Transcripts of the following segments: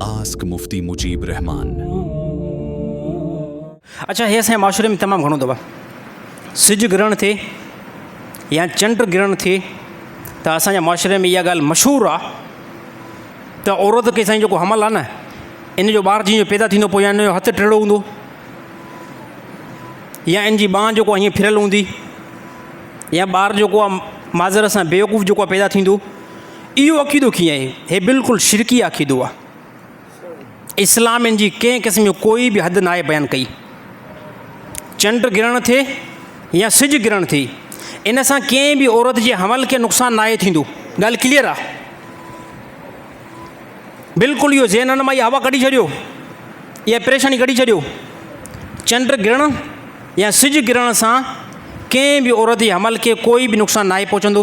Ask Mufti Mujib Rahman. اچا هي اسان جي معاشري ۾ تمام گهڻو دبا سج گرهڻ ٿئي يا چنڊ گرهڻ ٿئي ته اسان جي معاشري ۾ اها ڳالهه مشهور آ ته عورت کي سائين جيڪو حمل آ نه ان جو ٻار جيئن پيدا ٿيندو پوء يا ان جو هٿ ٽيڙو هوندو يا ان جي ٻانهن جيڪو هيئن ڦريل هوندي يا ٻار جيڪو آ ماضر سان بيوقوف جيڪو آ پيدا ٿيندو اهو عقيدو ڪيئن آهي؟ هي بلڪل شرڪي عقيدو آهي. اسلام ان جي ڪنهن قسم جو ڪوئي به حد ناهي بيان ڪئي. چنڊ گرهڻ ٿئي يا سج گرهڻ ٿئي ان سان ڪنهن به عورت جي حمل کي نقصان ناهي ٿيندو. ڳالهه ڪليئر آهي. بلڪل اهو ذهنن مان اها هوا ڪڍي ڇڏيو. اها پريشاني ڪڍي ڇڏيو. چنڊ گرهڻ يا سج گرهڻ سان ڪنهن به عورت جي حمل کي ڪوئي به نقصان ناهي پهچندو.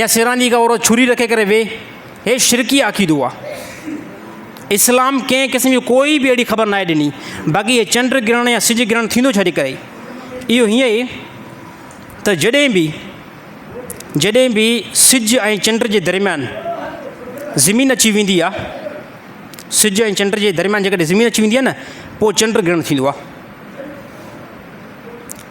يا سران جي ڪا عورت چھري رکي ڪري ويھي ھي شرڪي عقيدو آ اسلام ڪنھن قسم جي ڪوئي به اھڙي خبر ناھي ڏني باقي ھي چنڊ گرھڻ يا سج گرھڻ ٿيندو ڇا جي ڪري اھو ھيئن اھي ته جڏھن به جڏھن به سج ۽ چنڊ جي درميان زمين اچي ويندي آ سج ۽ چنڊ جي درميان جيڪڏھن زمين اچي ويندي آ نه پوء چنڊ گرھڻ ٿيندو آ.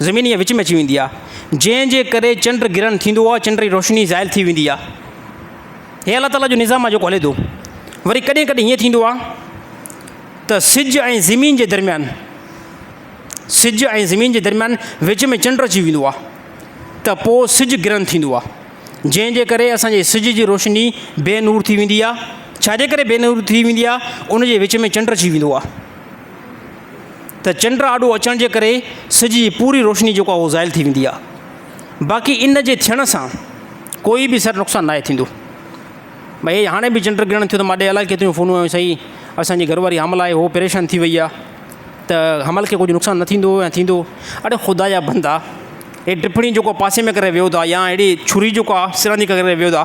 زمين ائين وچ ۾ اچي ويندي آهي، جنهن جي ڪري چنڊ گرهڻ ٿيندو آهي، چنڊ جي روشني زائل ٿي ويندي آهي. هي الله تعاليٰ جو نظام آهي جيڪو هلي ٿو. وري ڪڏهن ڪڏهن هيئن ٿيندو آهي ته سج ۽ زمين جي درميان سج ۽ زمين جي درميان وچ ۾ چنڊ اچي ويندو آهي ته پوء سج گرهن ٿيندو آهي جنهن جي ڪري اسان جي سج جي روشني بي نور ٿي ويندي آهي ڇا جي ڪري بي نور ٿي ويندي آهي ان جي وچ ۾ چنڊ اچي ويندو آهي ته چنڊ آڏو اچڻ جي ڪري سج جي پوري روشني جيڪو آهي اهو زائل ٿي ويندي آهي باقي ان جي ٿيڻ سان ڪوئي به سر نقصان ناهي ٿيندو ڀئي هي هاڻي به چنڊ گرهڻ ٿيو ته ماڏي الاء ڪيتريون فونون آيون سائين اسانجي گهر واري حامل آهي هو پريشان ٿي وئي آهي ته حمل کي ڪجهه نقصان نه ٿيندو يا ٿيندو اڙي خدا جا بندا هي ٽپڻي جيڪو پاسي ۾ ڪري ويو ٿا يا اهڙي ڇري جيڪو آهي سرنج ڪري ويو ٿا